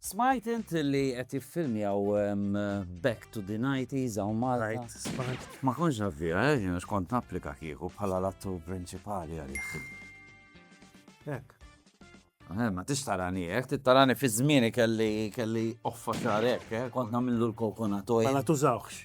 Smajt int li qed jiffilmjaw Back to the 90s hawn Malta? Ma kontx naf biha, eh, jien għax kont napplika kieku bħala l-attur prinċipali għalih. Hekk. Eh, ma tix tarani hekk, tittarani fi żmieni kelli kelli offa xahar hekk, eh, kont nagħmillu l-coconut oil. Ma tużawx.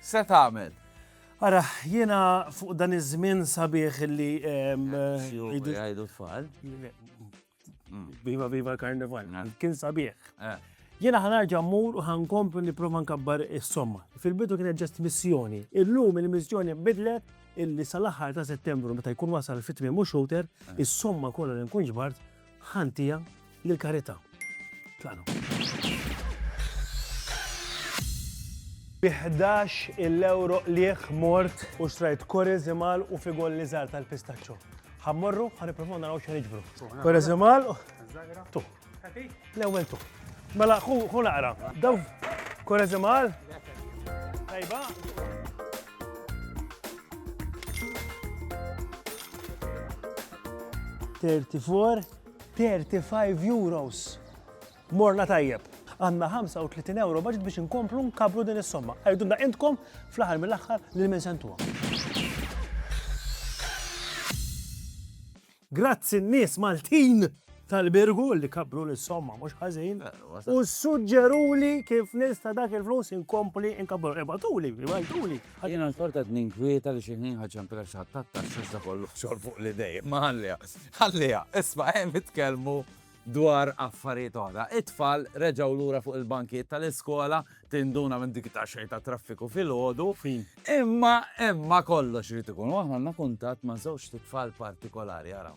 Se tagħmel? Ara, jiena fuq dan iż-żmien sabiħ illi. Jgħidu tfal. Viva viva l-karnival. Kien sabiħ. Eh. Jiena ħanarġa mmur u ħankomplu nipprova nkabbar is-somma. Fil-bidu kienet ġest missjoni. Illum il-missjoni bidlet illi sal-aħħar ta' Settembru meta jkun wasal fit-tmiem u xouter, is-somma kollha li nkun ġbart Ħann tiegħi lill-karità. Tlaqna. Bi ħdax il-ewro qligħ mort u xtrajt koreżimal u figolli żgħar tal-pistaċċo. Ħa mmorru, ħa nippruvaw naraw x'ħa niġbru. Koreżimal u tu. L-ewwel tu. Mela ħu ħu naqra. Daw koreżimal. Tajba. 34, 35 euros. Morna tajjeb. Għanna 35 euro budget biex inkomplu nkabru din is-somma. Għajdu da intkom fl-aħħar mill-aħħar li minn sentuha. Grazzi n-nies Maltin tal-Birgu li kabru l-somma mhux ħażin. U suġġeruli kif nista' dak il-flus inkompli inkabru. Ibatuli, ibatuli. Għad jiena l-kol qed ninkwieta li xi ħin ħa ċempilha xi ħadd tat-taxxa iżda kollu xogħol fuq l-idej. Imma ħalliha, ħalliha. Isma' hemm itkellmu dwar affarijiet oħra. It-tfal reġgħu lura fuq il-bankijiet tal-iskola, tinduna minn dik it-taxxej ta' traffiku filgħodu. Imma, imma kollox irid ikun. U aħna għandna kuntatt ma' żewġt tfal partikolari, araw.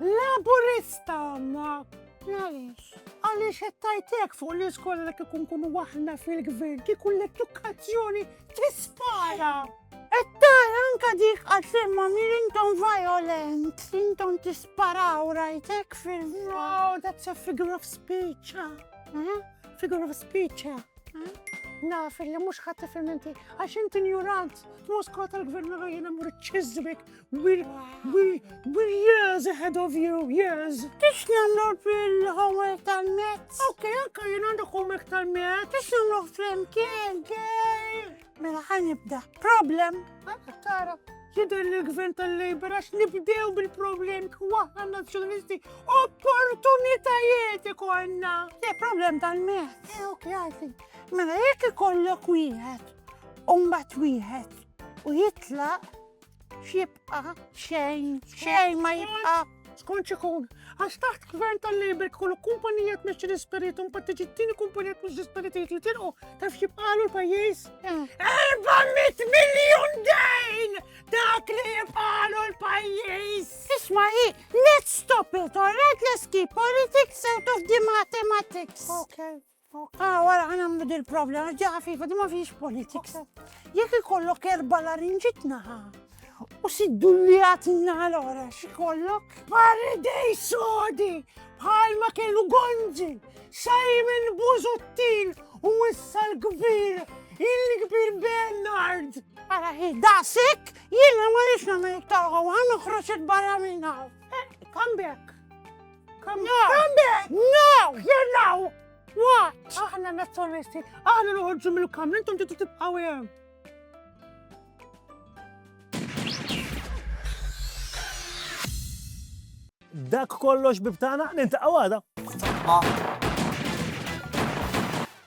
Laburista għanna! Għalix? Għalix jettajtek fuq li skola li kikun kunu waħna fil-gvern, kikun l-edukazzjoni tispara! Ettar, anka dik għatlimma mir intom violent, intom tisparaw rajtek fil-wow, that's a figure of speech, eh? figure of speech, eh? naf li mux ħatta fil-menti, għax inti njurant, t-moskot tal-gvern għajna mur ċizbik, We're, we're, we're years ahead of you, years. Tix namlu bil-homework tal-mezz? Ok, ok, jina għandu homework tal-mezz. Tix namlu flimkien, gej. Mela ħan nibda. Problem. Għanna tara. Jidher li l-gvern tal-Labor għax nibdew bil-problem kwaħna nazzjonalisti opportunitajiet ikonna. Le problem tal-mezz. Eh, ok, għarfin. Mela jekk ikollok wieħed, umbat wieħed, u jitlaq X'jibqa' xejn, xejn ma jibqa' skont xikun. Għax taħt gvern tal-Labor kollu kumpanija tmexxi l-ispiritu, mbagħad tiġi t-tieni kumpanija tmexxi l-ispiritu li tilqu taf xibqalu l-pajjiż. 400 eh. miljun dejn! Dak li jibqalu l-pajjiż! Isma' hi, let's stop it, all right, let's keep politics out of the mathematics. Okay. Okej, wara ħa nagħmlu dil-prova li għax ġaqa fifa di ma fiex politics. Jekk ikollok erba' larinġit naħa u siddu li għat naħa l-ora x'ikollok? Paridej sodi bħal ma kellu Gonzi, Simon Buzuttin u issa l-kbir, il-kbir Bernard. Ara hi, daqsik, jiena ma rix nagħmel iktar għawa, noħroġ barra minn hawn. Come back. Come now! Come back! No! Here now! What? Aħna nazzjonalisti, aħna noħorġu mill-kamra, intom titu tibqaw hemm. Dak kollox bibtana, nintaqgħu għada.